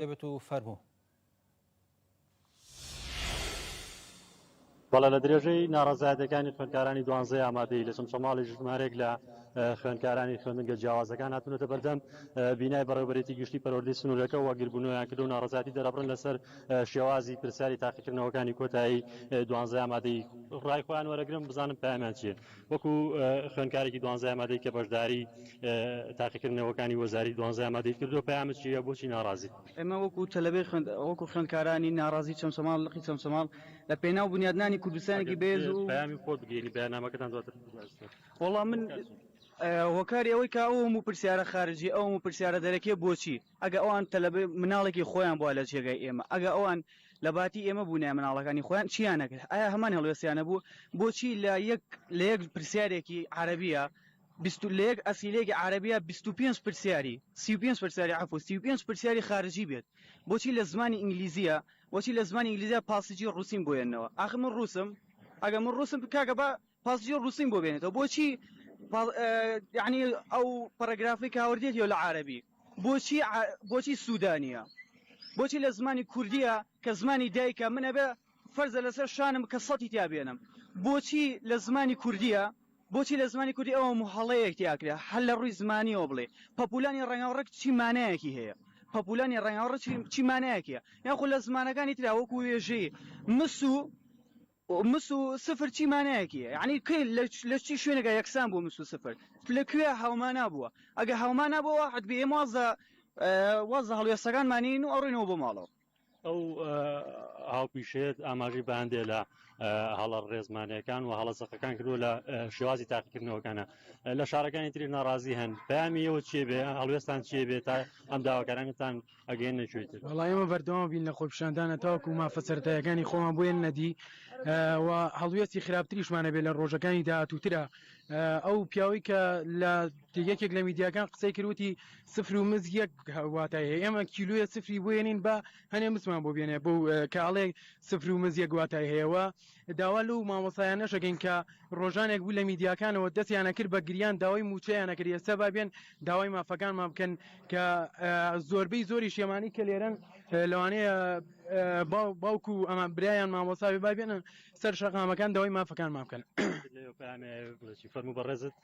بێت و فەرموو. بەڵێ لە درێژەی ناڕەزایەتەکانی خوێندکارانی دوانزەی ئامادەی لە چەمچەماڵی ژمارێک لە خوێندکارانی خوێندنگە جیاوازەکان هاتونەتە بەردەم بینای بەڕێوبەرێتی گشتی پەروەردەی سنوورەکە وەگیربوونەوەیان کردو ناڕەزاتی دەرەبڕن لەسەر شێوازی پرسیاری تاقیکردنەوەکانی کۆتایی دوانزەی ئامادەی ڕای خۆیان وەرەگرم بزانم پایامیان چیە وەکو خوێندکارێکی دوانزای مادەی کە بەشداری تاقیکردنەوەکانی وەزاری دوانزای مادەی کردووە پەیامت چییە بۆچی ناڕازیت؟ ئێمە وەکو تەلەبەی خوێند وەکو خوێندکارانی ناڕازی چەمچەماڵ لقی چەمچەماڵ لە پێناو بنیادنانی کوردستانێکی بەهێز و ئەگەر پەیامی خۆت بگەینی بەیاننامەکەتان دواتر باس دەکەین. وەڵا من هۆکاری ئەوەی کە ئەو هەموو پرسیارە خارجی ئەو هەموو پرسیارە دەرەکیە بۆچی؟ ئەگە ئەوان تەلەبەی مناڵێکی خۆیان بووە لە جێگای ئێمە ئەگە ئەوان لە باتی ئێمە بوونە مناڵەکانی خۆیان چیان نەکرد ئایا هەمان هەڵوێستیانە بوو بۆچی لە یەک لە یەک پرسیارێکی عربیە بیست لە یەک ئەسیلێکی عربیە 25 پرسیاری 35 پرسیاری عفو 35 پرسیاری خارجی بێت بۆچی لە زمانی ئینگلیزیە بۆچی لە زمانی ئینگلیزیە پاسیجی ڕوسیم بۆیەنەوە ئاخر من ڕوسم ئەگە من ڕوسم کاگە با پاسجیۆ روسین بۆ بێنێتەوە بۆچی یعنی ئەو پەرەگرافی کاوردێت یۆ لە عربی بۆچی بۆچی سوودانە بۆچی لە زمانی کوردیە کە زمانی دایکە منە بێ فەرزە لەسەر شانم کە سەتی تیا بێنم بۆچی لە زمانی کوردیە بۆچی لە زمانی کوردی ئەوە محڵەیەک تیاکرێ هەر لە ڕووی زمانیەوە بڵێ پەپولانی ڕنگاوڕک چی مانایەکی هەیە پەپولانی ڕنگاوڕ چی مانایەکە یاخود لە زمانەکانی تراوەکو وێژەی مسو مس و سفر چی مانایەکی هەیە یعنی کەی لە چی شوێنێکە یەکسان بووە مس و سفر لە کوێ هاومانا بووە ئەگە هاومانا بۆ واحد بێ ئێمە واز لە واز لە هەڵوێستەکانمانین و ئەڕۆینەوە بۆ ماڵەوە ئەو هاوپیشێت ئاماژەی بەندێ لە هەڵە ڕێزمانەکان و هەڵە سەقەکان کردو لە شێوازی تاقیکردنەوەکانە لە شارەکانی تری ناڕازی هەن پامیەوە چێ بێ هەڵوێستان چێ بێت تا ئەم داواکارانتان ئەگەینە گوێ تر وڵا ئێمە بەردەوام بین لە خۆپشاندانە تاوکو مافە سەرتایەکانی خۆمان بۆیە نەدی و هەڵوێستی خراپتریشمانە بێ لە ڕۆژەکانی داهاتووترا ئەو پیاوی کە لە یەکێک لە میدیاکان قسەی کردوتی سفر و مز یەک واتایە ئێمە کیلویە سفری بۆێنین بە هەنێ مسمان بۆ بێنێ بۆ کاڵێ سفر و مز یەک واتای هەیەەوە داوا لەو مامۆستایانەش ئەکەین کە ڕۆژانێک بوو لە میدیاکانەوە دەستیان ئەکرد بە گریان داوای مووچەیان ئەکرد ئێستا با بێن داوای مافەکانمان بکەن کە زۆربەی زۆری شێمانی کە لێرەن لەوانەیە باوکو ئەمان برایان مامۆساوی با بێنن سەر شەقامەکان داوای مافەکانمان بکەن فەرموو بەڕێزت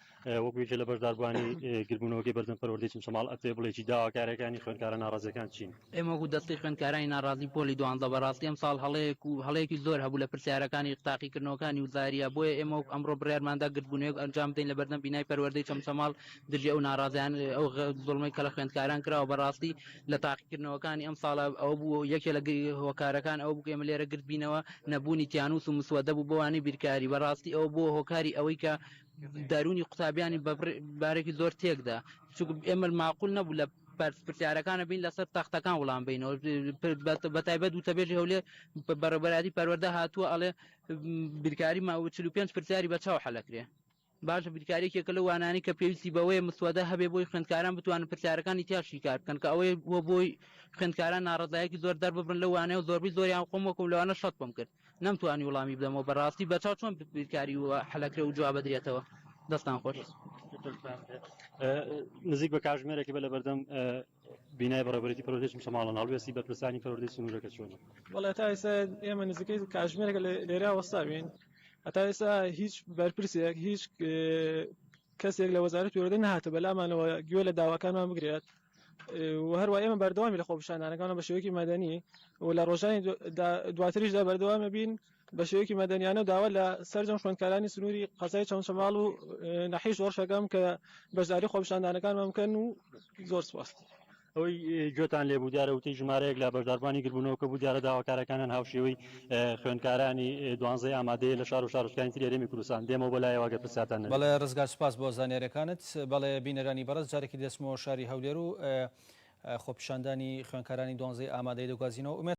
وەکو یەکێ لە بەشداربووانی گردبوونەوەکەی بەردەم پەروەردەی چمچەماڵ ئەتوێ بڵێی چی داوا کارەکانی خوێندکارە ناڕازیەکان چین؟ ئێمە وەکو دەستەی خوێندکارانی ناڕازی پۆلی دوانزە بەڕاستی ئەمساڵ هەڵەیەک و هەڵەیەکی زۆر هەبوو لە پرسیارەکانی تاقیکردنەوەکانی و زاریا بۆیە ئێمە وەک ئەمڕۆ بڕیارماندا گردبوونەوەیەک ئەنجام بدەین لە بەردەم بینای پەروەردەی چەمچەماڵ دژی ئەو ناڕازیانە ئەو زوڵمەی کە لە خوێندکاران کراوە بەڕاستی لە تاقیکردنەوەکانی ئەمساڵ ئەوە بوو یەکێ لە هۆکارەکان ئەوە بوو ئێمە لێرە گردبینەوە نەبوونی تیانووس و مسوەدە بوو بۆ وانەی بیرکاری بەڕاستی ئەوە بووە هۆکاری ئەوەی کە دەروونی قوتابیانی بە بڕ- بارێکی زۆر تێکدا چونکە ئێمە ماقول نەبوو لە پرس- پرسیارەکانە بین لەسەر تەختەکان وڵام بینەوە پر- بە بە تایبەت وتەبێژی هەولێر بە بەڕێوەبەرایەتی پەروەردە هاتووە ئەڵێ بیرکاری ما 45 پرسیاری بە چاو حەلەکرێ باشە بیرکاریەکێکە لە وانانی کە پێویستی بەوەیە مسوەدە هەبێ بۆی خوێندکاران بتوانن پرسیارەکانی تیا شیکار بکەن کە ئەوەی بۆ بۆی خوێندکاران ناڕەزایەکی زۆر دەرببڕن لەو وانەیە و زۆربەی زۆریان خۆم وەکم لەوانە شەت بم کرد نەمتوانی وڵامی بدەمەوە بەڕاستی بەچاو چۆن بیرکاری و حلەکرێ و جواب بدرێتەوە دەستان خۆش نزیک بە کاژمێرێکی بە لە بەردەم بینای بەڕێبەرێتی پرۆژێکی مسەماڵە هەڵوێستی بەرپرسانی پرۆردی سنوورەکە چۆن وڵێ تا ئێستا ئێمە نزیکەی کاژمێرەکە لێرا وەستاوین هەتا ئێستا هیچ بەرپرسێک هیچ کەسێک لە وەزارەت پێوەدە نهاتە بەلامانەوە گوێ لە داواکانمان بگرێت وهەروە ئێمە بەردەوامی لە خۆپشاندانەکانە بە شێوەیەکی مەدەنی و لە ڕۆژانی دواتریشدا بەردەوامە بین بە شێوەیەکی مەدەنیانە و داوا لە سەرجەم خوێندکارانی سنووری قەزای چەمچەماڵ و نەحیش وەڕشەکەم کە بەشداری خۆپشاندانەکانمان بکەن و زۆر سپاس. ئەوەی گوێتان لێبوو دیارە وتەی ژمارەیەک لە بەشداربانی گربوونەوە کە بوو دیارە داواکارەکانیان هاوشێوەی خوێندکارانی دوانزەی ئامادەیە لە شار و شارۆچکانی تری هەرێمی کوردستان دێمەوە بۆ لایەوە ئەگەر پرسیارتان نەبێ. بەڵێ ڕزگار سوپاس بۆ زانیاریەکانت. بەڵێ بینەرانی بەڕێز جارێکی دەچمەوە شاری هەولێر و خۆپیشاندانی خوێندکارانی دوانزەی ئامادەیی دەگوازینەوە. ئومێد.